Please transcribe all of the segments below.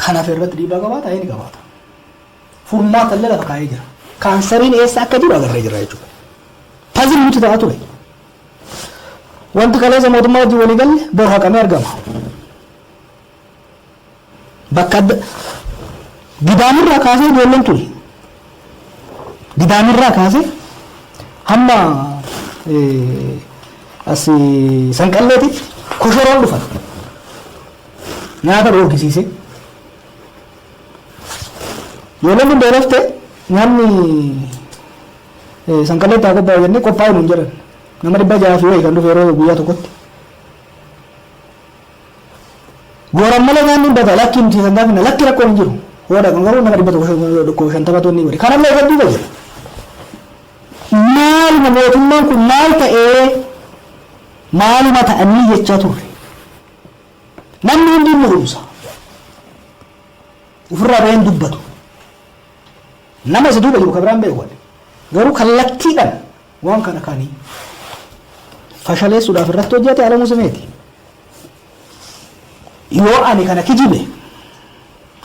kan hafe irratti dhiibbaa qabaata ni qabaata. Furmaata illee lafa kaa'ee jira. Kaansariin eessa akka jiru agarree jira jechuudha. Pazil nuti ta'a ture. Wanti kaleessa mootummaa wajjin walii galle bor haqamee argama. Bakka adda Gidaamirraa kaasee ijoolleen tuni. Gidaamirraa kaasee hamma as sanqalleetitti koshoroon dhufan. Nyaata dhoorgisiisee. Ijoolleen kun beelaftee nyaanni sanqalleetti haa qophaa'u jennee qophaa'u nuun jedhan. Nama dhibba jahaa fi wayi kan dhufe yeroo guyyaa tokkotti. Yoo rammalee nyaanni hin bada lakki nuti kan gaafina lakki rakkoon hin jiru. Yoo dhaqan garuu nama dhibba tokko dhukkuba shantamatu inni godhe. Kanallee irratti dhiiba jira. Maaluma mootummaan kun maal ta'ee maaluma ta'anii jechaa turre. Namni hundi hin mul'umsa. Ofirraa bahee hin dubbatu. Nama isa duuba jiru kan biraan beeku. Garuu kallattiidhaan Waan kana kan fashaleessuudhaaf irratti hojjate Alamuu Simeeti. Yoo ani kana kijibe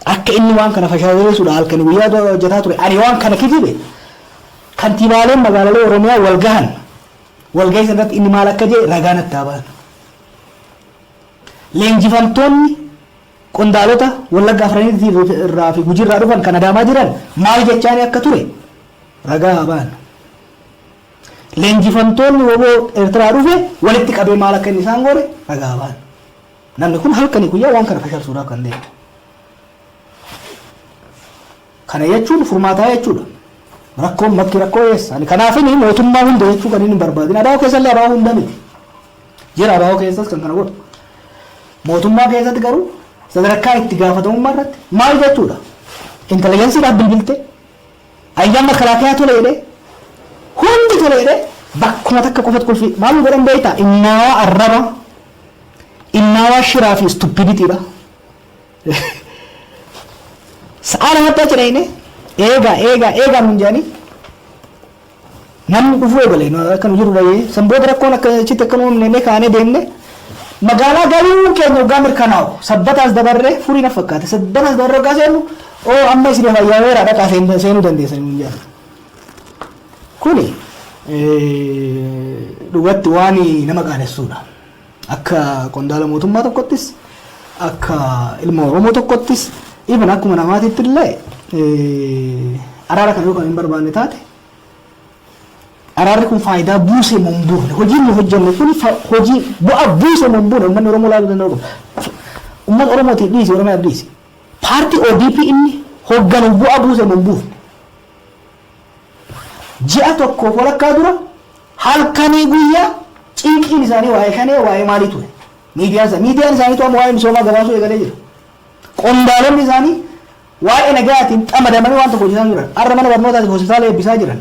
akka inni waan kana fashaleessuudhaaf halkanii guyyaa hojjetaa ture ani waan kana kijibe kantiibaaleen magaalalee Oromiyaa wal gahan walgahii sana irratti inni maal akka jedhe ragaa natti haa ba'an. Leenjifamtoonni Qondaalota Wallagga Afraniitii fi irraa fi Gujiirraa dhufan kan Adaamaa jiran maal jechaanii akka ture ragaa haa bahan. Leenjifamtoonni wbo Ertiraa dhufe walitti qabee maal akka inni isaan goone ragaa haa bahan. Namni kun halkanii guyyaa waan kana fashalsuudhaaf kan deeme. Kana jechuun furmaataa jechuudha. Rakkoon bakki rakkoo eessa? Ani kanaafin mootummaa hunda jechuu kanin hin barbaadin. Abo keessallee abo hunda miti. Jira abo keessas kan kana godhu. Mootummaa keessatti garuu sadarkaa itti gaafatamummaa irratti maal jechuudha? Intelijensiidhaaf bilbiltee, ayyaan makalaakiyaa tole jedhee, hundi tole jedhee bakkuma takka qofatti qulfii maal nu godhan beektaa? Innaawaa arraba, innaawaa shiraa fi stupidity dha. Sa'aa lamatti achi dhayne eegaa eegaa eegaa nuun jedhanii namni dhufuu eegale nu akka nu jiru dhayee san booda rakkoon akka achitti akka nu uumne kaanee deemne magaalaa galuun keenya waggaa mirkanaa'u sabbataas dabarree furii na fakkaate sabbataas dabarree waggaa seennu oo amma isin fayyaa weera dhaqaa seen- seenuu dandeessan nuun jedhan. Kuni eh, dhugatti waan nama qaanessuudha. Akka qondaala mootummaa tokkottis, akka ilma Oromoo tokkottis, even akkuma namaatiitti illee araara kana yoo kan hin barbaanne taate araarri kun faayidaa buusee moo hin buufne hojiin nu hojjenne kun hojii bu'aa buusee moo hin buune uummanni Oromoo ilaaluu danda'u qaba. Uummata Oromootiif dhiisi Oromiyaaf dhiisi. Paartii ODP inni hoogganu bu'aa buusee moo hin buufne. Ji'a tokkoof walakkaa dura halkanii guyyaa cinqiin isaanii waa'ee shanee waa'ee maalii ture. Miidiyaan isaanii miidiyaan isaanii to'amu waa'ee misoomaa gabaasuu eegalee jira. Qondaalonni isaanii waa'ee nagayaatiin xamadamanii waan tokko hojjetaa jiran. Har'a mana barnootaatiif hospitaala eebbisaa jiran.